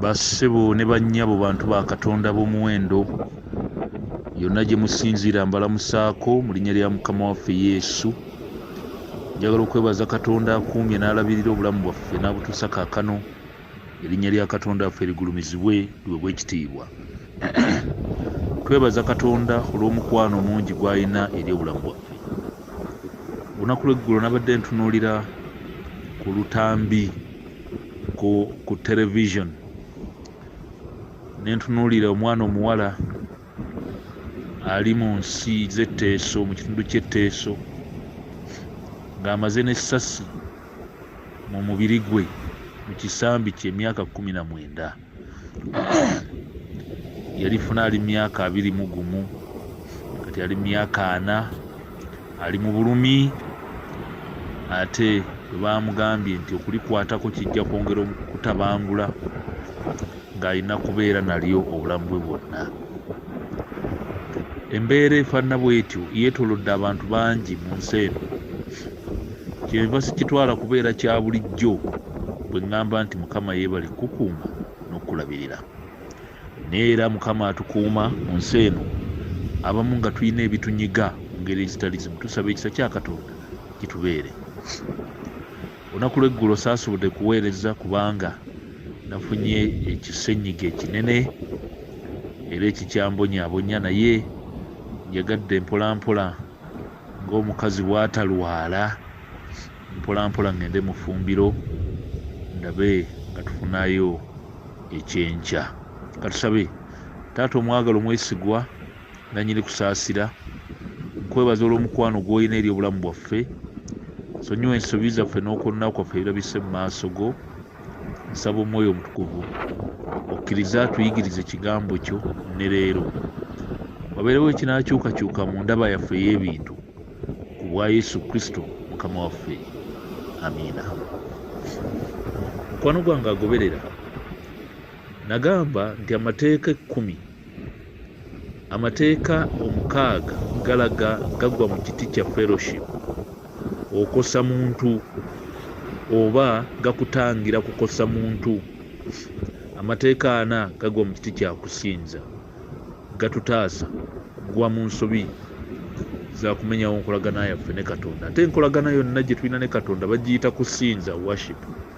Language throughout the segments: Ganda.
bassebo ne bannyabo bantu ba katonda b'omuwendo yonna gye musinziira mbalamusaako mu linnya lya mukama waffe yesu njagala okwebaza katonda akuumye n'alabirira obulamu bwaffe n'abutuusa kaakano erinnya lya katonda waffe ligulumizibwe liwebwa ekitiibwa twebaza katonda olw'omukwano omungi gw'alina eri obulamu bwaffe olunaku lweggulo nabadde ntunuulira ku lutambi ku, ku television nentunuulira omwana omuwala ali mu nsi z'etteeso mu kitundu ky'etteeso ng'amaze n'essasi mu mubiri gwe mu kisambi ky'emyaka kumi na mwenda yalifuna ali myaka abiri mu gumu kati ali myaka ana ali mu bulumi ate bwe bamugambye nti okulikwatako kijja kwongera okutabangula ng'alina kubeera nalyo obulamu bwe bwonna embeera efaanana bw'etyo yeetoolodde abantu bangi mu nsi eno Kyenva sikitwala kubeera kya bulijjo bwe ŋŋamba nti Mukama yeebale kukukuuma n'okukulabirira. Naye era Mukama atukuuma mu nsi eno abamu nga tulina ebitunyiga mu ngeri ezitali zimu. Tusaba ekisa kya Katonda kitubeere. Olunaku lw'eggulo saasobodde kuweereza kubanga nafunye ekisenyiga ekinene era ekikyambonyaabonya naye njagadde mpolampola ng'omukazi bw'atalwala mpolampola ŋŋende mu ffumbiro ndabe nga tufunayo ekyenkya katusabe taata omwagala omwesigwa nanyini kusaasira nkwebaza olw'omukwano gw'olina eri obulamu bwaffe sonyiwa ensobi zaffe n'okwonna kwaffe ebirabise mu maaso go nsaba omwoyo omutukuvu okkirize atuyigirize ekigambo kyo ne leero wabeerewo ekinakyukakyuka mu ndaba yaffe ey'ebintu ku bwa yesu kristo mukama waffe amiina mukwano gwange agoberera nagamba nti amateeka ekkumi Amateeka omukaaga galaga gagwa mu kiti kya fellowship okosa muntu oba gakutangira kukosa muntu amateeka ana gagwa mu kiti kya kusinza gatutaasa gwa mu nsobi zakumenyawo nkolagana yaffe ne katonda ate enkolagana yonna gye tulina ne katonda bagiyita kusinza worship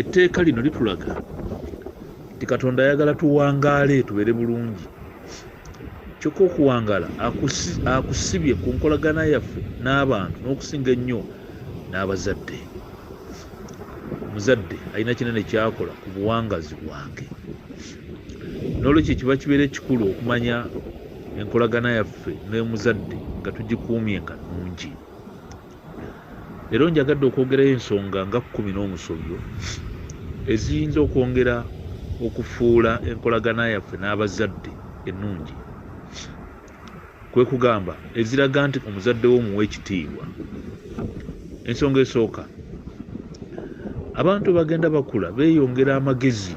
etteeka lino litulaga nti katonda ayagala tuwangaale tubeere bulungi kyokka okuwangaala akusibye ku nkolagana yaffe n'abantu n'okusinga ennyo n'abazadde omuzadde alina kinene kyakola ku buwangazi bwange n'olwekyo kiba kibeera ekikulu okumanya enkolagana yaffe n'omuzadde nga tugikuumye nga nungi Leero njagadde okwogerayo ensonga nga kkumi n'omusobyo eziyinza okwongera okufuula enkolagana yaffe n'abazadde ennungi, kwe kugamba eziraga nti omuzadde wo omuwa ekitiibwa. Ensonga esooka, abantu bagenda bakula beeyongera amagezi.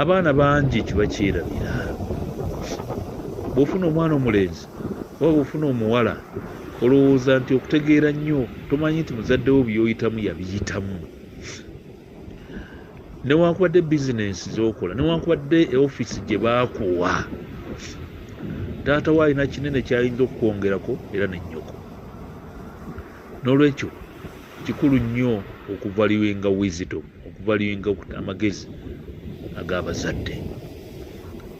abaana bangi kibakyerabira bwofuna omwana omulenzi oba bwofuna omuwala olowooza nti okutegeera nnyo tomanyi nti muzaddewo byoyitamu yabiyitamu newankubadde bizinensi zokola newankubadde eofiisi gye baakuwa taata wo alina kinene kyayinza okukwongerako era nennyoko n'olwekyo kikulu nnyo okuvaliwinga wisdom okuvalinga amagezi ag'abazadde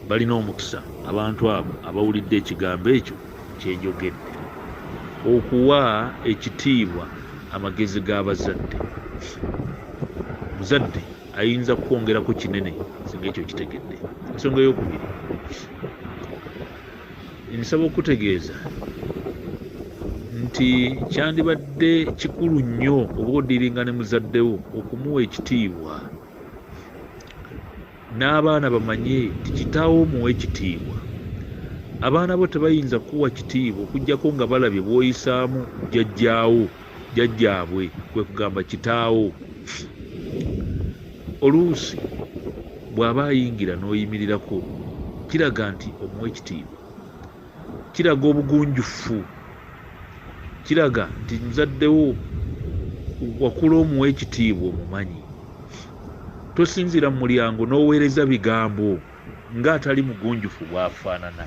balina omukisa abantu abo abawulidde ekigambo ekyo kyenjogedde okuwa ekitiibwa amagezi g'abazadde muzadde ayinza kukwongerako kinene singa ekyo kitegedde ensonga eyokubiri Nsaba okukutegeeza nti kyandibadde kikulu nnyo oba odiringa ne muzaddewo okumuwa ekitiibwa n'abaana bamanye nti kitaawo omuwa ekitiibwa abaana bo tebayinza kukuwa kitiibwa okuggyako nga balabye bw'oyisaamu jjajjaawo jjajjaabwe kwe kugamba kitaawo oluusi bw'aba ayingira n'oyimirirako kiraga nti omuwa ekitiibwa kiraga obugunjufu kiraga nti muzaddewo wakula omuwa ekitiibwa omumanyi tosinziira mu mulyango n'oweereza bigambo nga atali mugunjufu bwafaanana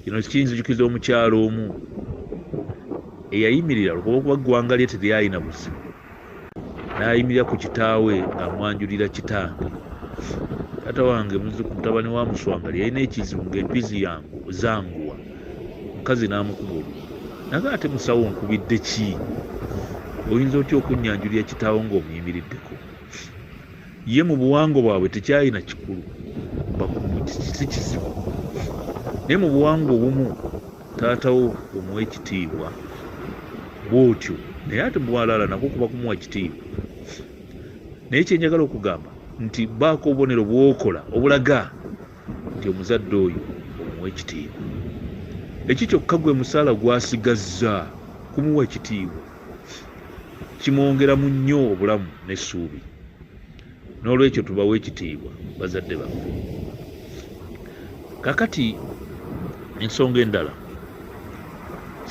kino kiyinzijukiza omukyalo omu eyayimirira lwokuba okuba ggwanga lye teryalina buzibu n'ayimirira ku kitaawe ng'amwanjulira kitange taata wange muziku mutabani wa muswanga lyeyalina ekizibu ng'empizi yangu zanguwa omukazi n'amukuba olu naga ate musawo nkubidde ki oyinza otya okunnyanjulira kitaawo ng'omuyimiriddeko ye mu buwangwa bwabwe tekyalina kikulu si kizibu naye mu buwangwa obumu taatawo omuwa ekitiibwa bwotyo naye ate bwalala nako kuba kumuwa kitiibwa naye kyenjagala okugamba nti baako obubonero bwokola obulaga nti omuzadde oyo omuwa ekitiibwa ekyo kyokka gwe musaala gwasigazza kumuwa ekitiibwa kimwongeramu nnyo obulamu n'essuubi n'olwekyo tubawa ekitiibwa bazadde baffe kakati ensonga endala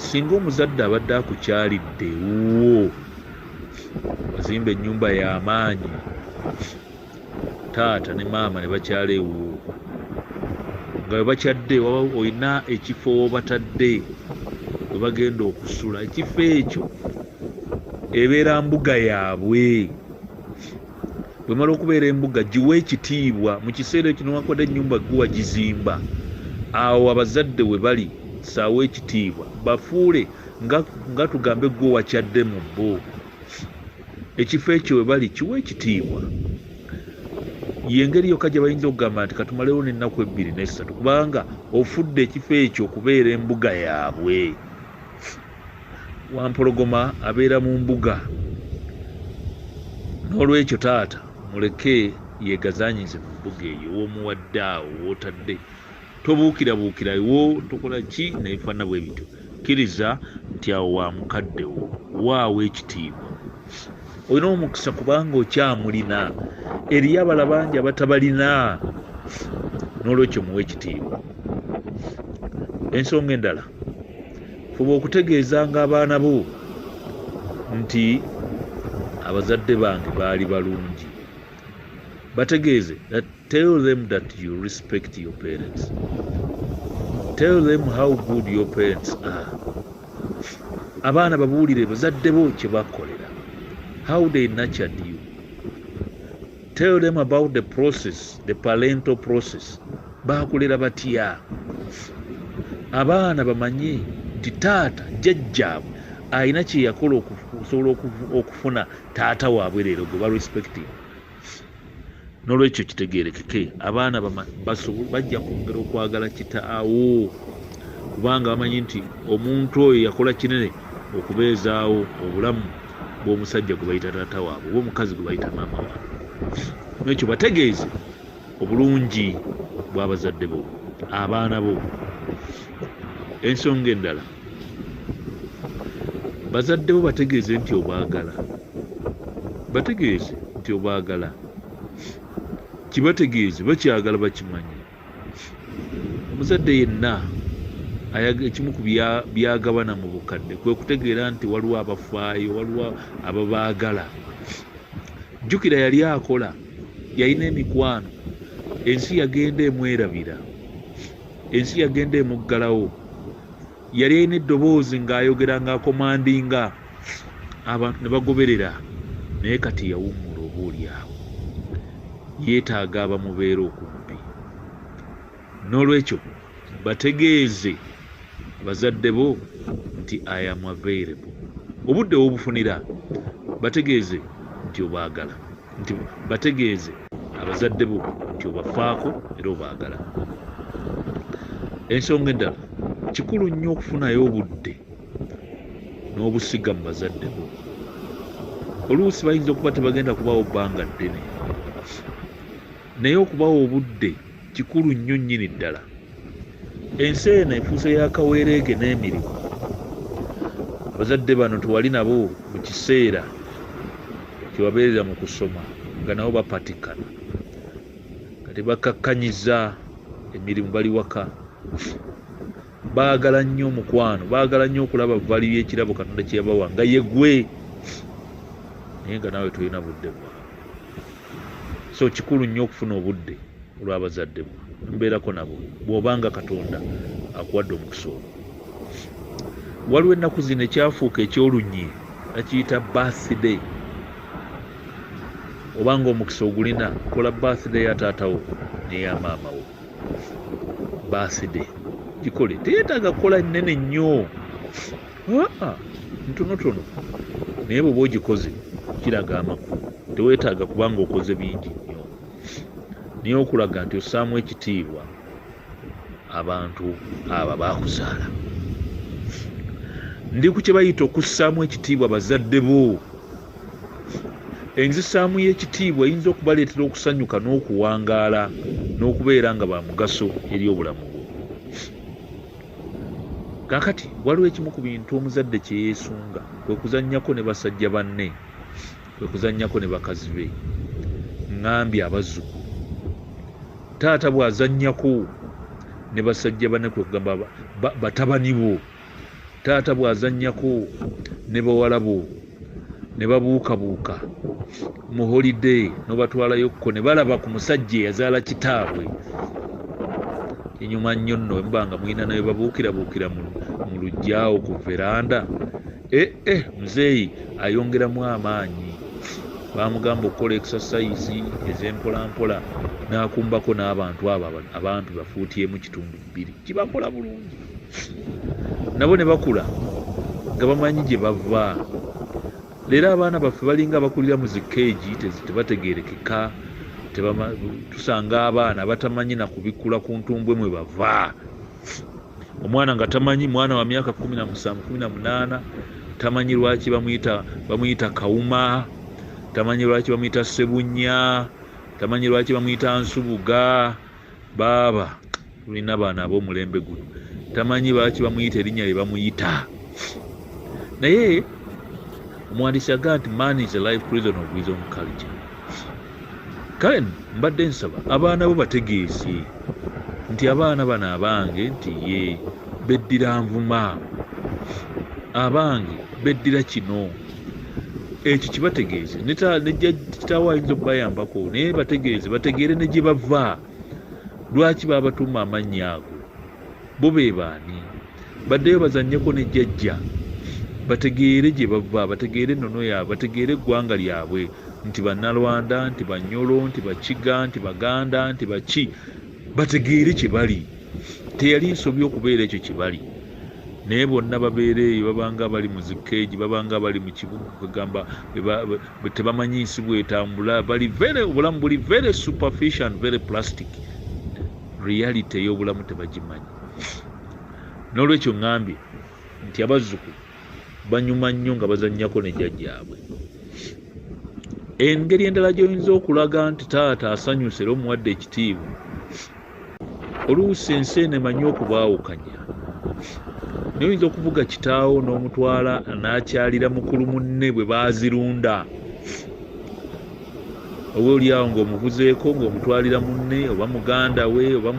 singa omuzadde abadde akukyalidde wuwo wazimba ennyumba y'amaanyi taata ne maama ne bakyala ewuwo nga webakyadde waba olina ekifo wobatadde webagenda okusula ekifo ekyo ebeera mbuga yaabwe bwemala okubeera embuga giwe ekitiibwa mu kiseera ekyo newankubadde enyumba guwa gizimba awo abazadde we bali saawa ekitiibwa bafuule nga tugambe gwe wakyadde mu bo ekifo ekyo we bali kiwa ekitiibwa yengeri yokka gye bayinza okugamba nti katumalewo n'ennaku ebbiri n'essatu kubanga ofudde ekifo ekyo okubeera embuga yaabwe wampologoma abeera mu mbuga n'olwekyo taata muleke yegazanyize mu mbuga eyo womuwadde awo wotadde tobuukirabuukira wo tokola ki naye fana bwe bityo kkiriza nti awo wa mukadde wo waawo ekitiibwa olina omukisa kubanga okyamulina eriyo abala bangi abatabalina n'olwekyo muwa ekitiibwa ensonga endala fuba okutegeezanga abaana bo nti abazadde bange baali balungi bategeeze Tell them that you respect your parents. Tell them how good your parents are. Abaana babuulire bazadde bo kye bakolera. How they nurtured you. Tell them about the process, the parental process. Baakulera batya? Abaana bamanye nti taata jjajjaabwe alina kye yakola okusobola okufuna taata waabwe leero gwe barespecting. nolwekyo kitegerekeke abaana bajja kwongera okwagala kitaawo kubanga bamanyi nti omuntu oyo yakola kinene okubeezaawo obulamu bwomusajja gwebayita taata waabwe oba omukazi gwebayita maama waabwe nolwekyo bategeeze obulungi bwabazadde bo abaana bo ensonga endala bazadde bo bategeeze nti obaagala bategeeze nti obaagala kibategeeze bakyagala bakimanye muzadde yenna ekimu ku byagabana mu bukadde kwe kutegeera nti waliwo abafaayo waliwo ababaagala jjukira yali akola yalina emikwano ensi yagenda emwerabira ensi yagenda emuggalawo yali alina eddoboozi ng'ayogera ng'akomandinga abantu ne bagoberera naye kati yawummula oba olyawo yeetaaga abamubeera okumpi n'olwekyo bategeeze bazadde bo nti i am available obudde wobufunira bategeeze nti obaagala nti bategeeze abazadde bo nti obafaako era obaagala ensonga endala kikulu nnyo okufunayo obudde n'obusiga mu bazadde bo oluusi bayinza okuba tebagenda kubaawo bbanga ddene naye okubawa obudde kikulu nnyo nnyini ddala ensi eno efuuse ya kaweereege n'emirimu abazadde bano tewali nabo mu kiseera kyewabeerera mu kusoma nga nabo bapatikana nga tebakkakkanyiza emirimu bali waka baagala nnyo omukwano baagala nnyo okulaba vali yekirabo katonda kyeyabawa nga yegwe naye nga naawe tolina budde bwa so kikulu nnyo okufuna obudde olwabazadde bwa mbeerako nabo bwobanga katonda akuwadde omukisa olwo waliwo ennaku zino ekyafuuka ekyolunyi nakiyita birthday obanga omukisa ogulina kola birthday ya taatawo neya maamawo baaside gikole teyetaaga kukola nnene nnyo aa ntonotono naye bweoba ogikoze kiraga amakulu tewetaaga kubanga okoze bingi nnyo naye okulaga nti ossaamu ekitiibwa abantu abo baakuzaala ndi ku kye bayita okussaamu ekitiibwa bazadde bo Enzisaamu y'ekitiibwa eyinza okubaleetera okusanyuka n'okuwangaala n'okubeera nga ba mugaso eri obulamu bwo. Kaakati waliwo ekimu ku bintu omuzadde kye yeesunga, kwe kuzannyako ne basajja banne, kwe kuzannyako ne bakazi be, ŋŋambye abazzukulu. Taata bw'azannyako ne basajja banne, kwe kugamba batabani bo, taata bw'azannyako ne bawala bo ne babuukabuuka mu holiday n'obatwalayokko ne balaba ku musajja eyazaala kitaabwe enyuma nnyo nno emuba nga mulina naye babuukirabuukira mu lujjaawo ku veranda ee eh, eh, muzeeyi ayongeramu amaanyi bamugamba okukola exercise ez'empolampola n'akumbako n'abantu abo abantu bafuutyemu kitundu biri kibakola bulungi nabo ne bakula nga bamanyi gye bava leero abaana baffe balinga abakulira mu zikeegi tebategerekeka tusanga abaana batamanyi na kubikula ku ntumbwe mwe bava omwana nga tamanyi mwana wa myaka kumi na musanvu kumi na munaana tamanyi lwaki bamuyita bamuyita kawuma tamanyi lwaki bamuyita sebunya tamanyi lwaki bamuyita nsubuga baaba tulina abaana ab'omulembe guno tamanyi baaki bamuyita erinnya lye bamuyita naye omuwandiisi agaa nti man is a life prison of his own culture kale mbadde nsaba abaana bo bategeeze nti abaana bano abange nti ye beddira nvuma abange beddira kino ekyo kibategeeze nekitaawo ayinza okubayambako naye bategeeze bategeere ne gye bava lwaki babatuuma amannya ago bo be baani baddeyo bazanyeko ne jjajja bategeere gye bava bategeere ennono yaabwe bategeere eggwanga lyabwe nti bannalwanda nti banyolo nti bakiga nti baganda nti baki bategeere kye bali teyali nsobi okubeera ekyo kye bali naye bonna babeera eyo babanga bali mu zikeegi babanga bali mu kibuga kwegamba tebamanyi nsi bwetambula bali very obulamu buli very superfish and very plastic reality ey'obulamu tebagimanyi n'olwekyo ŋambye nti abazzukulu banyuma nnyo nga bazannyako ne jjajjaabwe engeri endala gy'oyinza okulaga nti taata asanyusa era omuwadde ekitiibwa oluusi ensi eno emanyi okubaawukanya naye oyinza okuvuga kitaawo n'omutwala n'akyalira mukulu munne bwe baazirunda oba olyawo ng'omuvuzeeko ng'omutwalira munne oba muganda we oba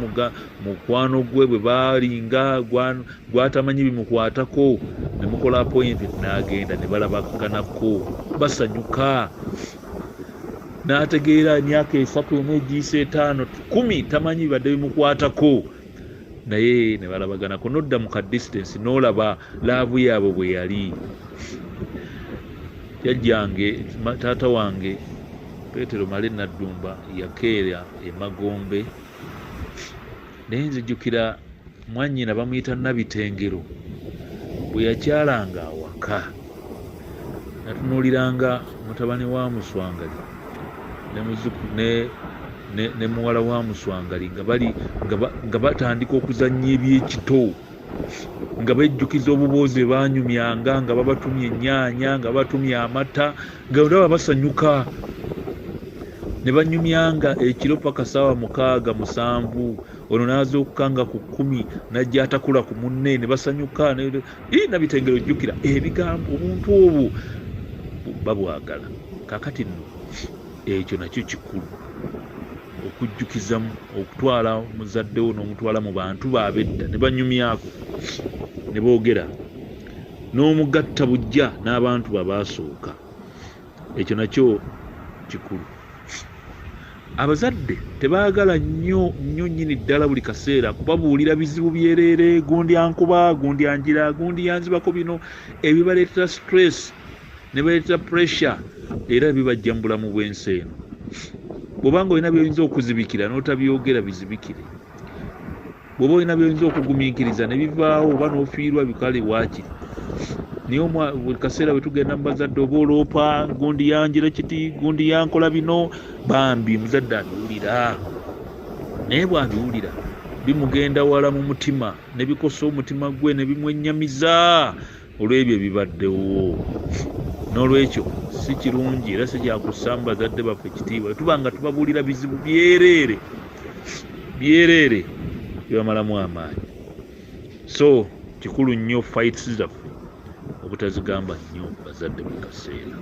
mukwano gwe bwe balinga gwatamanyi bimukwatako ne mukola appointment n'agenda ne balabaganako basanyuka n'ategeera emyaka esatu emu egiisa etaano kumi tamanyi bibadde bimukwatako naye ne balabaganako nodda mu ka distance n'olaba laavu yaabo bwe yali jajjange taata wange petero male naddumba yakeera emagombe naye nzijukira mwanyina bamuyita nabitengero bwe yakyalanga awaka natunuuliranga mutabani wa muswangali ne muwala wa muswangali nga batandika okuzannya ebyekito nga bejjukiza obuboozi banyumyanga nga babatumya ennyaanya nga batumya amata nga olaba basanyuka ne banyumyanga ekiro paka saawa mukaaga musanvu ono nazuukuka nga ku kkumi najja atakula ku munne ne basanyuka nabitengere ojjukira ebigambo obuntu obwo babwagala kakati nno ekyo nakyo kikulu okujjukizamu okutwala muzaddewo n'omutwala mu bantu baabedda ne banyumyako ne boogera n'omugatta bujja n'abantu babaasooka ekyo nakyo kikulu abazadde tebaagala nnyo nnyo nnyini ddala buli kaseera kubabuulira bizibu byereere gundi ankuba gundi anjira gundi yanzibako bino ebibaleetera stress ne baleeta pressure era bibajja mu bulamu bw'ensi eno bwobanga olina byoyinza okuzibikira n'otabyogera bizibikire bwoba olina byoyinza okugumiikiriza ne bivaawo oba n'ofiirwa bikale waakiri naye buli kaseera bwe tugenda mu bazadde oba oloopa gundi yanjira kiti gundi yankola bino bambi muzadde abiwulira naye bwabiwulira bimugenda wala mu mutima ne bikosa omutima gwe ne bimwennyamiza olw'ebyo ebibaddewo n'olwekyo si kirungi era si kyakussa mu bazadde baffe ekitiibwa tuba nga tubabuulira bizibu byereere byereere byebamalamu amaanyi so kikulu nnyo fights zaffe obutazigamba nnyo bazadde buli kaseera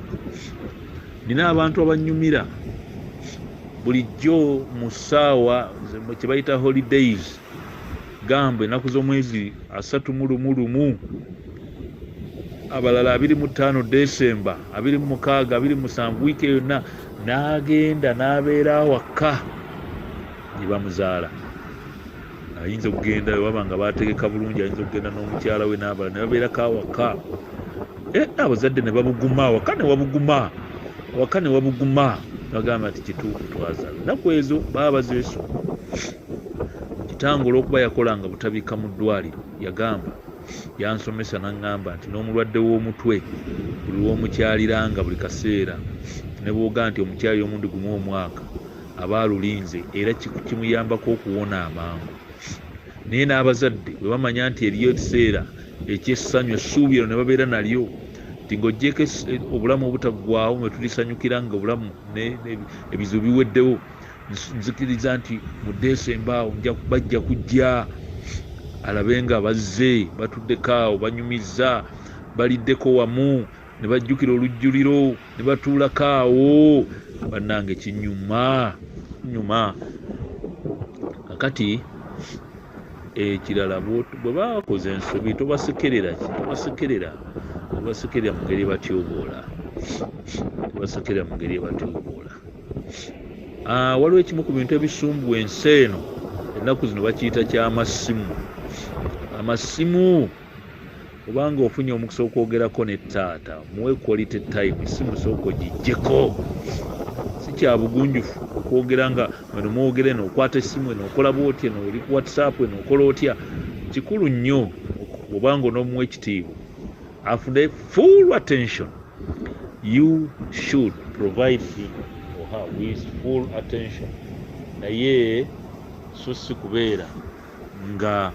nina abantu abanyumira bulijjo mu ssaawa kyebayita holidays gamba ennaku z'omwezi asatu mu lumu lumu abalala abiri mu ttaano desemba abiri mu mukaaga abiri musanvu wiiki yonna n'agenda n'abeera awakka gye bamuzaala ayinza okugenda waba nga bategeka bulungi ayinza okugenda n'omukyala we n'abala ne babeerako awaka eh, abazadde ne babuguma awaka ne wabuguma awaka ne wabuguma bagamba nti kituufu twazala naku ezo baba bazeesu Kitange olw'okuba yakolanga butabika mu ddwaaliro, yagamba, yansomesa n'aŋŋamba nti n'omulwadde w'omutwe buli lw'omukyaliranga buli kaseera ne bw'ogamba nti omukyalira omulundi gumu omwaka aba alulinze era kimuyambako okuwona amangu. Naye n'abazadde bwe bamanya nti eriyo ekiseera eky'essanyu essuubi eryo ne babeera nalyo nti ng'oggyeeko eh, obulamu obutaggwaawo mwe tulisanyukira nga obulamu ebizibu biweddewo nzikiriza nti mu desemba awo bajja kujja alabe nga bazze batuddeko awo banyumizza baliddeko wamu ne bajjukira olujjuliro ne batuulako awo bannange kinyuma nyuma kakati ekirala bwe bakoze ensobi tobasekerera tobasekerera tobasekerera mu ngeri ebatyoboola tobasekerera mu ngeri ebatyoboola ah, waliwo ekimu ku bintu ebisumbu ensi eno ennaku zino bakiyita kyamasimu amasimu obanga ofunye omukisa okwogerako ne taata muwe quality time simu sooka ogijjeko sikyabugunjufu okwogera nga weno mwogera eno okwata esimu eno okola bwoti eno oli ku whatsapp eno okola otya kikulu nnyo obanga onomuwa ekitiibwa afune full attention you should provide him or her with full attention naye so si kubeera nga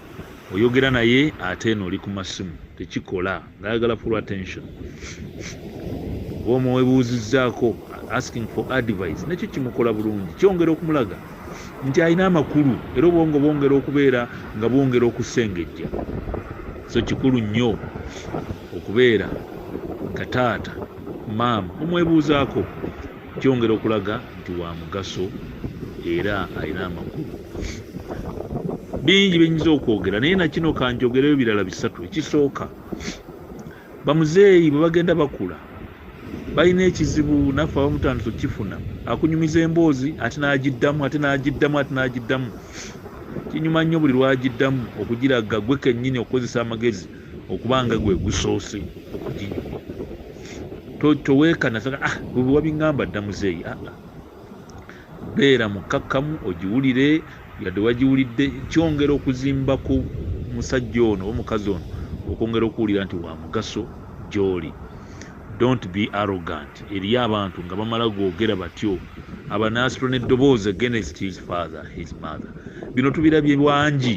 oyogera naye ate eno oli ku masimu tekikola ngayagala full attention oba omuwebuuzizzaako asking for advice nakyo kimukola bulungi kyongera okumulaga nti alina amakulu era obwongo bwongera okubeera nga bwongera okusengejja so kikulu nnyo Okubeera nga taata, maama mumwebuuzaako kyongera okulaga nti wa mugaso era alina amakulu. Bingi bye nnyinza okwogera naye na kino ka njogereyo birala bisatu. Ekisooka, bamuzeeyi bwe bagenda bakula balina ekizibu naffe abamu tutandise okukifuna akunyumiza emboozi ate n'agiddamu ate n'agiddamu ate n'agiddamu kinyuma nnyo buli lwagiddamu okugiragga gwe kennyini okukozesa amagezi okuba nga gwe gusoose okuginyumya toweekana saka ah bwe wabingamba dda muzeeyi aa ah, ah. beera mukkakkamu ogiwulire yadde wagiwulidde kyongera okuzimba ku musajja ono oba omukazi ono okwongera okuwulira nti wa mugaso gy'oli don't be arrogant eriyo abantu nga bamala googera batyo abanaasitula n'eddoboozi against his father his mother bino tubirabye wangi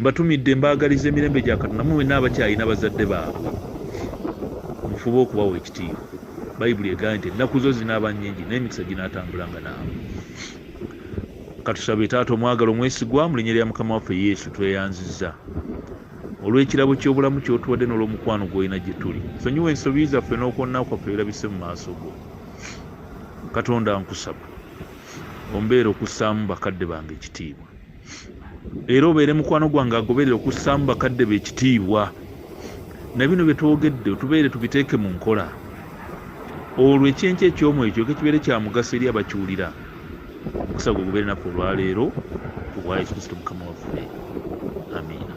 mbatumidde mbaagaliza emirembe gya katonda mu wenna abakyalina bazadde baabwe mufube okubawa ekitiibwa bayibuli egaa nti ennaku zo zinaaba nnyingi naye emikisa ginaatambulanga naawe katusabe taata omwagala omwesigwa mu linya lya mukama waffe yesu tweyanziza olw'ekirabo ky'obulamu kyotuwadde n'olwomukwano gwolina gye tuli sonyiwa ensobi zaffe n'okwonna kwaffe birabise mu maaso go katonda nkusaba ombeera okussaamu bakadde bange ekitiibwa era obeere mukwano gwange agoberera okussaamu bakadde be ekitiibwa na bino bye twogedde otubeere tubiteeke mu nkola olwo ekyenkyo ekyomu ekyo kekibeere kya mugaso eri abakiwulira omukisa gwe gubeere naffe olwaleero ku bwa yesu kristo mukama waffe amiina